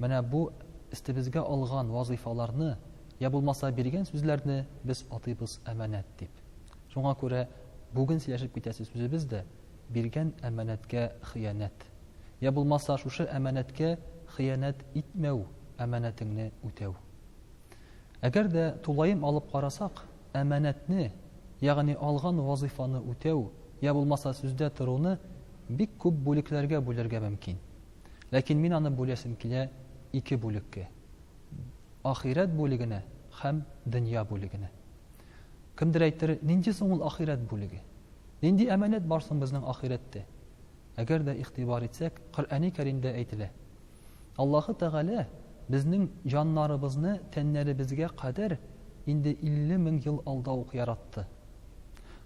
Менә бу өстебезгә алган вазыйфаларны, я булмаса биргән сүзләрне без атыйбыз әманәт дип. Шуңа күрә бүген сөйләшеп китәсе сүзебез дә биргән әманәткә хыянәт. Я булмаса шушы әманәткә хыянәт итмәү, әманәтеңне үтәү. Әгәр дә тулаем алып карасак, әманәтне, ягъни алган вазыйфаны үтәү, я булмаса сүздә торуны бик күп бүлекләргә бүлергә мөмкин. Ләкин мин аны бүләсем килә ике бүлеккә. Ахирәт бүлегенә һәм дөнья бүлегенә. Кемдер әйтер, нинди соң ул ахирәт бүлеге? Нинди әманәт бар соң безнең ахирәттә? Әгәр дә игътибар итсәк, Коръәни Кәримдә әйтелә. Аллаһы Тәгалә безнең җаннарыбызны тәннәребезгә кадәр инде 50 мең ел алда ук яратты.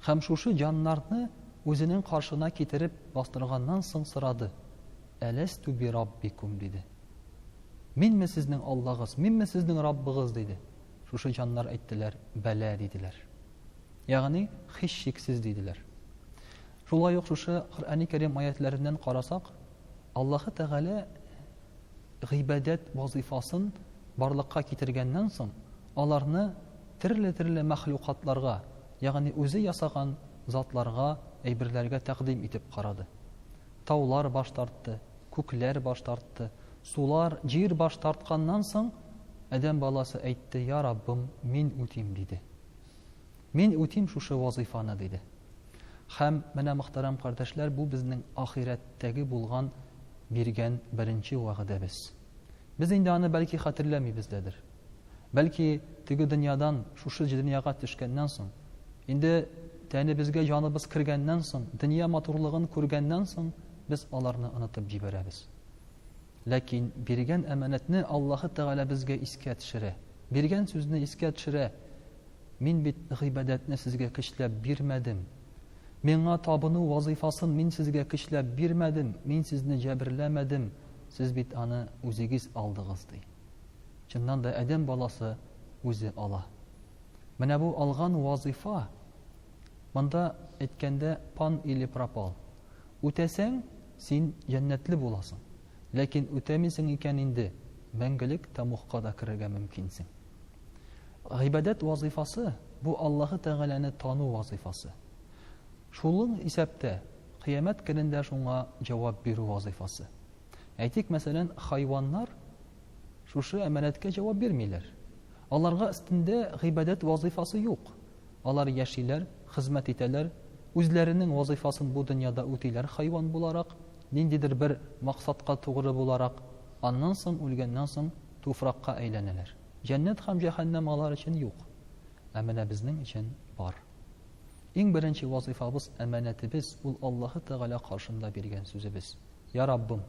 Һәм шушы җаннарны Үзенең каршына китереп бастырганнан соң сорады, Әләстү би раббикум, диде. Минме сезнең Аллагыз, минме сезнең Раббыгыз, диде. Шушы җаннар әйттеләр, Бәлә, диделәр. Ягъни, һичшиксез, диделәр. Шулай ук шушы Коръәни Кәрим аятләреннән карасак, Аллаһы Тәгалә гыйбадәт вазыйфасын барлыкка китергәннән соң, аларны терле-терле мәхлукатларга, ягъни үзе ясаган затларга, әйберләргә тәкъдим итеп карады. Таулар баш тартты, күкләр баш тартты, сулар, җир баш тартканнан соң, адәм баласы әйтте, Я Раббым, мин үтим, диде. Мин үтим шушы вазыйфаны, диде. Һәм менә, мөхтәрәм кардәшләр, бу безнең ахирәттәге булган биргән беренче вәгъдәбез. Без инде аны бәлки хәтерләмибездәдер. Бәлки, теге дөньядан шушы дөньяга төшкәннән соң, инде тәнебезгә җаныбыз кергәннән соң, дөнья матурлыгын күргәннән соң, без аларны онытып җибәрәбез. Ләкин биргән әманәтне Аллаһы Тәгалә безгә искә төшерә. Биргән сүзне искә төшерә. Мин бит гыйбадәтне сезгә көчләп бирмәдем. Миңа табыну вазыйфасын мин сезгә көчләп бирмәдем, мин сезне җәберләмәдем, сез бит аны үзегез алдыгыз, ди. Чыннан да адәм баласы үзе ала. Менә бу алган вазыйфа, монда әйткәндә пан или пропал. Үтәсәң, син җәннәтле буласың, ләкин үтәмисең икән инде, мәңгелек тамугка да керергә мөмкинсең. Гыйбадәт вазыйфасы, бу Аллаһы Тәгаләне тану вазыйфасы. Шулың исәптә, кыямәт көнендә шуңа җавап бирү вазыйфасы. Әйтик, мәсәлән, хайваннар шушы әманәткә җавап бирмиләр. Аларга өстендә гыйбадәт вазыйфасы юк. Алар яшиләр, хезмәт итәләр, үзләренең вазыйфасын бу дөньяда үтиләр хайван буларак, ниндидер бер максатка тугры буларак, аннан соң үлгәннән соң туфракка әйләнәләр. Җәннәт һәм җәһәннәм алар өчен юк. Ә менә безнең өчен бар. Иң беренче вазыйфабыз, әманәтебез ул Аллаһы Тәгалә каршында биргән сүзебез. Йа Раббым,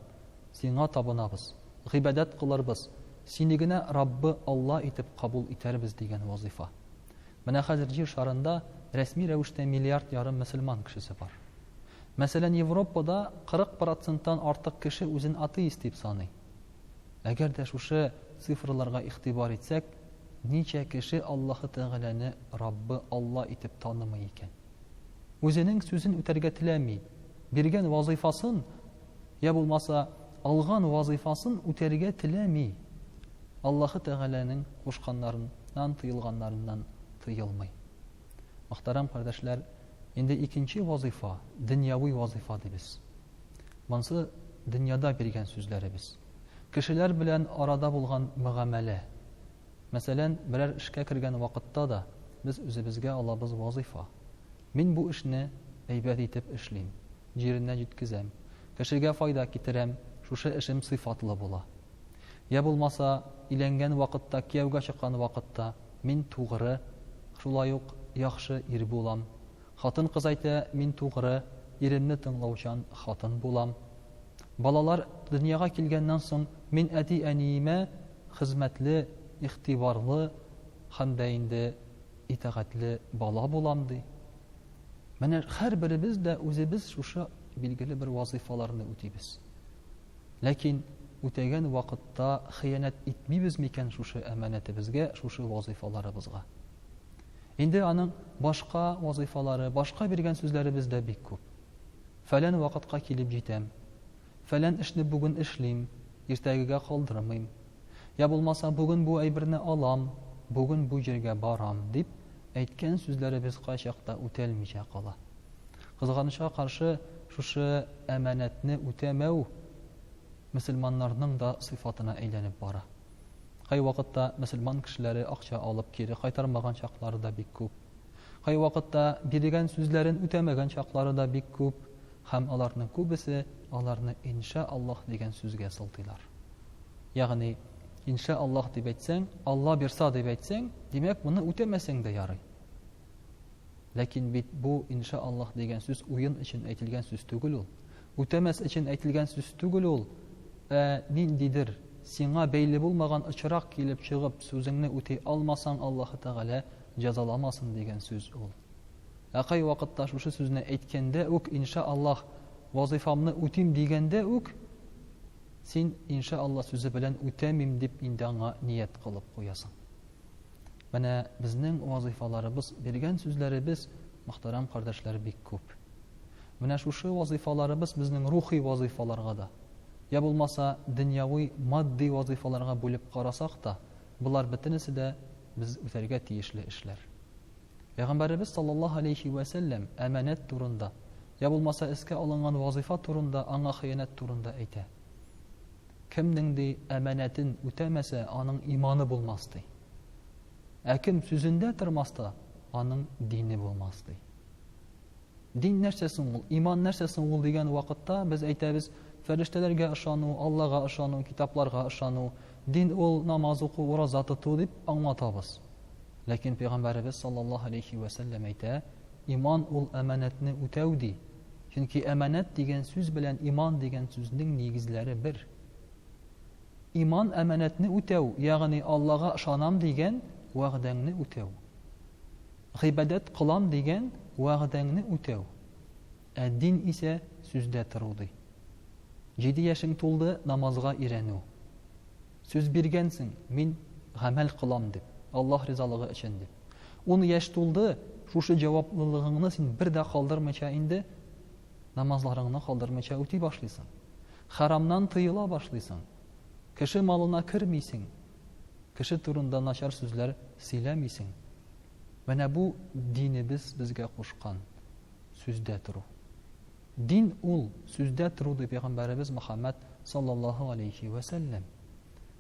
Сиңа табынабыз, гыйбадәт кылырбыз, Сине генә Раббы Алла итеп кабул итәрбез дигән вазыйфа. Менә хәзер Җир шарында рәсми рәвештә миллиард ярым мөселман кешесе бар. Мәсәлән, Европада 40 проценттан артык кеше үзен атеист дип саный. Әгәр дә шушы цифрларга игътибар итсәк, Ничә кеше Аллаһы Тәгаләне Раббы Алла итеп танымый икән? Үзенең сүзен үтәргә теләми, биргән вазыйфасын я булмаса алган вазыйфасын үтәргә теләми, Аллаһы Тәгаләнең кушканнарыннан тыелганнарыннан тыелмый. Мөхтәрәм кардәшләр, инде икенче вазыйфа, дөньяви вазыйфа дибез. Монсы дөньяда биргән сүзләребез. Кешеләр белән арада булган мөгамәлә. Мәсәлән, берәр эшкә кергән вакытта да без үзебезгә алабыз вазыйфа. Мин бу эшне әйбәт итеп эшлим, җиренә җиткезәм, кешегә файда китерәм, шушы эшем сыйфатлы була. Йә булмаса, өйләнгән вакытта, кияүгә чыккан вакытта мин тугры, шулай ук яхшы ир булам, Хатын-кыз әйтә, мин тугры, иремне тыңлаучан хатын булам. Балалар дөньяга килгәннән соң, мин әти-әниемә хезмәтле, игътибарлы һәм дә инде итагатьле бала булам, ди. Менә һәрберебез дә үзебез шушы билгеле бер вазыйфаларны үтибез. Ләкин үтәгән вакытта хыянәт итмибез микән шушы әманәтебезгә, шушы вазыйфаларыбызга? Инде аның башка вазыйфалары, башка биргән сүзләребез дә бик күп. Фәлән вакытка килеп җитәм. Фәлән эшне бүген эшлим, иртәгегә калдырмыйм. Йә булмаса, бүген бу әйберне алам, бүген бу җиргә барам, дип әйткән сүзләребез кайчакта үтәлмичә кала. Кызганычка каршы, шушы әманәтне үтәмәү мөселманнарның да сыйфатына әйләнеп бара. Кайвакытта мөселман кешеләре акча алып кире кайтармаган чаклары да бик күп. Кайвакытта биргән сүзләрен үтәмәгән чаклары да бик күп. Һәм аларның күбесе аларны Иншә Аллаһ дигән сүзгә сылтыйлар. Ягъни, Иншә Аллаһ дип әйтсәң, Алла бирса дип әйтсәң, димәк, моны үтәмәсәң дә ярый. Ләкин бит бу инша Аллаһ дигән сүз уен өчен әйтелгән сүз түгел ул. Үтәмәс өчен әйтелгән сүз түгел ул. Ә ниндидер сиңа бәйле булмаган очрак килеп чыгып, сүзеңне үти алмасаң, Аллаһы Тәгалә җәзаламасын дигән сүз ул. Ә кай вакытта шушы сүзне әйткәндә үк инша Аллаһ вазифамны үтим дигәндә үк син инша Аллаһ сүзе белән үтәмим дип инде аңа ният кылып куясың. Менә безнең вазыйфаларыбыз, биргән сүзләребез, мөхтәрәм кардәшләр, бик күп. Менә шушы вазыйфаларыбыз безнең рухи вазыйфаларга да, я булмаса, дөньяви, матди вазыйфаларга бүлеп карасак та, болар бөтенесе дә без үтәргә тиешле эшләр. Пәйгамбәребез саллаллаһу алейхи вә сәлләм әманәт турында, я булмаса, эскә алынган вазыйфа турында, аңа хыянәт турында әйтә. Кемнең, ди, әманәтен үтәмәсә, аның иманы булмас, ди. Ә кем сүзендә тормас та, аның дине булмас, ди. Дин нәрсә соң ул? Иман нәрсә соң ул дигән вакытта без әйтәбез, фәрештәләргә ышану, Аллага ышану, китапларга ышану, дин ул намаз уку, ураза тоту дип аңлатабыз. Ләкин пәйгамбәребез саллаллаһу алейхи ва сәлләм әйтә, иман ул әманәтне үтәү ди, Чөнки әманәт дигән сүз белән иман дигән сүзнең нигезләре бер. Иман әманәтне үтәү, ягъни Аллага ышанам дигән вәгъдәңне үтәү. Гыйбадәт кылам дигән вәгъдәңне үтәү. Ә дин исә сүздә тору ди. Җиде яшең тулды, намазга өйрәнү. Сүз биргәнсең, мин гамәл кылам дип, Аллаһ ризалыгы өчен дип. Ун яшь тулды, шушы җаваплылыгыңны син бер дә калдырмыйча инде намазларыңны калдырмыйча үти башлыйсың. Харамнан тыела башлыйсың. Кеше малына кермисең. Кеше турында начар сүзләр сөйләмисең. Менә бу динебез безгә кушкан сүздә тору. Дин ул, сүздә тору, ди пәйгамбәребез Мөхәммәд саллаллаһу алейһи вә сәлләм.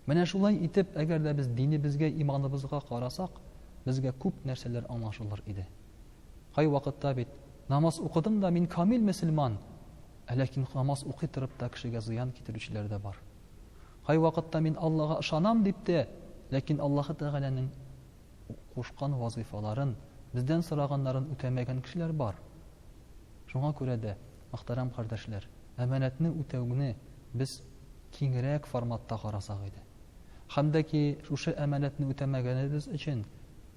Менә шулай итеп, әгәр дә без динебезгә, иманыбызга карасак, безгә күп нәрсәләр аңлашылыр иде. Кай вакытта бит намаз укыдым да мин камил мөселман, ә ләкин намаз укый торып та кешегә зыян китерүчеләр дә бар. Кай вакытта мин Аллага ышанам дип тә, ләкин Аллаһы Тәгаләнең кушкан вазыйфаларын, бездән сораганнарын үтәмәгән кешеләр бар. Шуңа күрә дә, мөхтәрәм кардәшләр, әманәтне үтәүне без киңрәк форматта карасак иде. Һәм дә ки шушы әманәтне үтәмәгәнебез өчен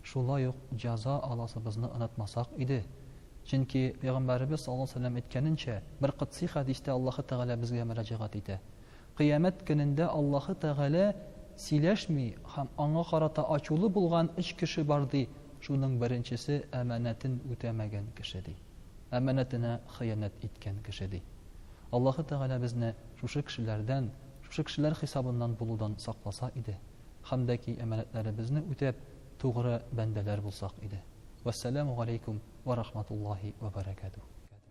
шулай ук җәза аласыбызны онытмасак иде. Чөнки Пәйгамбәребез саллаллаһу галәйһи ва сәлләм әйткәненчә, бер котсый хәдистә Аллаһы Тәгалә безгә мөрәҗәгать итә, Кыямәт көнендә Аллаһы Тәгалә сөйләшми һәм аңа карата ачулы булган өч кеше бар, ди, шуның беренчесе, әманәтен үтәмәгән кеше, ди. Әманәтенә хыянәт иткән кеше, ди. Аллаһы Тәгалә безне шушы кешеләрдән, шушы кешеләр хисабыннан булудан сакласа иде, һәм дә ки әманәтләребезне үтәп, тугры бәндәләр булсак иде. Вәссәламү галәйкүм вә рахматуллаһи вә бәрәкәтүһ.